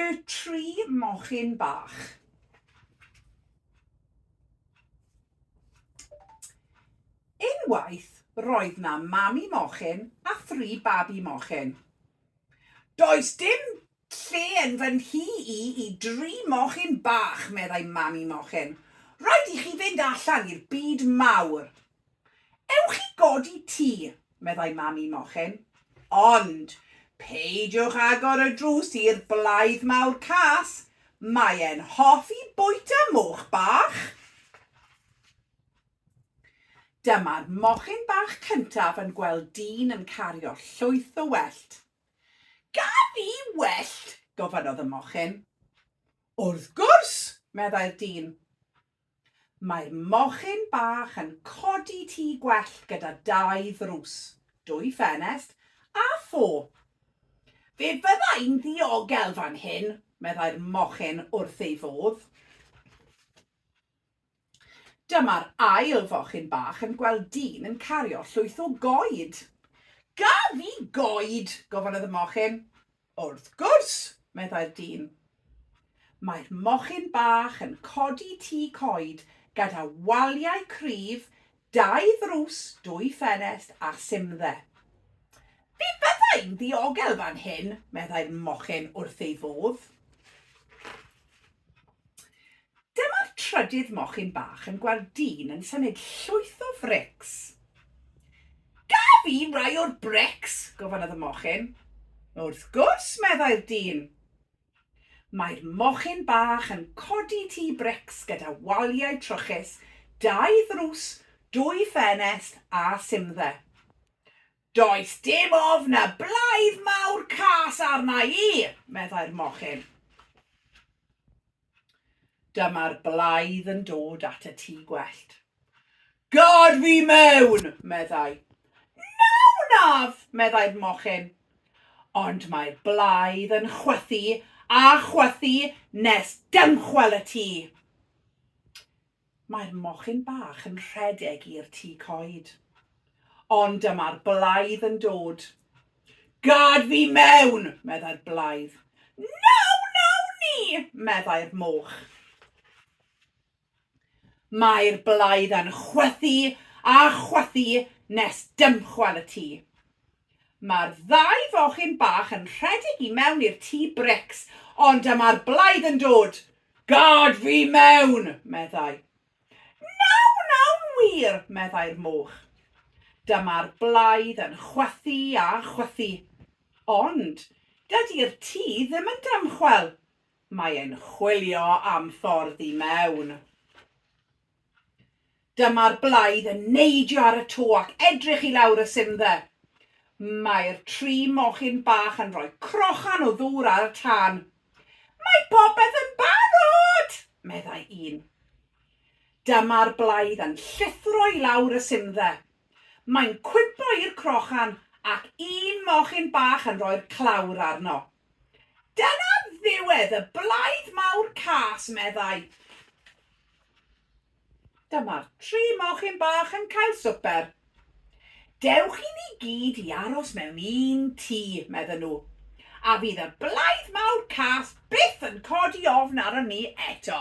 Y tri mochyn bach. Unwaith roedd 'na mami mochyn a thri babi mochyn. Does dim lle yn fy nhŷ i i dri mochyn bach, meddai mami mochyn. Rhaid i chi fynd allan i'r byd mawr. Ewch i godi tŷ, meddai Mami Mochyn. Ond, peidiwch agor y drws i'r blaidd mawr cas, mae e'n hoffi bwyta moch bach! Dyma'r mochyn bach cyntaf yn gweld dyn yn cario llwyth o wellt. Gaf i wellt? gofynnodd y mochyn. Wrth gwrs! meddai'r dyn. Mae'r mochyn bach yn codi tŷ gwellt gyda dau ddrws, dwy ffenest a thôp. Fe fydda i'n ddiogel fan hyn, meddai'r mochyn wrth ei fodd. Dyma'r ail fochyn bach yn gweld dyn yn cario llwyth o goed. Gaf i goed? gofynnodd y mochyn. Wrth gwrs! meddai'r dyn. Mae'r mochyn bach yn codi tŷ coed gyda waliau cryf, dau ddrws, dwy ffenest a simdde. Fe fyddai'n ddiogel fan hyn, meddai'r mochyn wrth ei fodd. Dyma'r trydydd mochyn bach yn gweld dyn yn symud llwyth o frics. Gaf i rai o'r brics? gofynnodd y mochyn. Wrth gwrs, meddai'r dyn. Mae'r mochyn bach yn codi tŷ brics gyda waliau trwchus, dau ddrws, dwy ffenest a simdde. Does dim ofn y blaidd mawr cas arna i, meddai'r mochyn. Dyma'r blaidd yn dod at y tŷ gwellt. Gad fi mewn! meddai. Na wnaf! meddai'r mochyn. Ond mae'r blaidd yn chwythu a chwythu nes dymchwel y tŷ. Mae'r mochyn bach yn rhedeg i'r tŷ coed. Ond dyma'r blaidd yn dod. Gad fi mewn! meddai'r blaidd. Na wnawn ni! meddai'r moch. Mae'r blaidd yn chwythu a chwythu nes dymchwel y tŷ. Mae'r ddau fochyn bach yn rhedeg i mewn i'r tŷ brics, ond dyma'r blaidd yn dod. Gad fi mewn! meddai. Nawn, nawn wir! meddai'r moch. Dyma'r blaidd yn chwythu a chwythu. Ond dydi'r tŷ ddim yn dymchwel. Mae e'n chwilio am ffordd i mewn. Dyma'r blaidd yn neidio ar y to ac edrych i lawr y simdde. Mae'r tri mochyn bach yn rhoi crochan o ddŵr ar y tân. Mae popeth yn barod! meddai un. Dyma'r blaidd yn llithro i lawr y simdde. Mae'n cwympo i'r crochan ac un mochyn bach yn rhoi'r clawr arno. Dyna ddiwedd y blaidd mawr cas, meddai. Dyma'r tri mochyn bach yn cael swper. Dewch i ni gyd i aros mewn un tŷ, medden nhw, a fydd y blaidd mawr cas byth yn codi ofn arnon ni eto.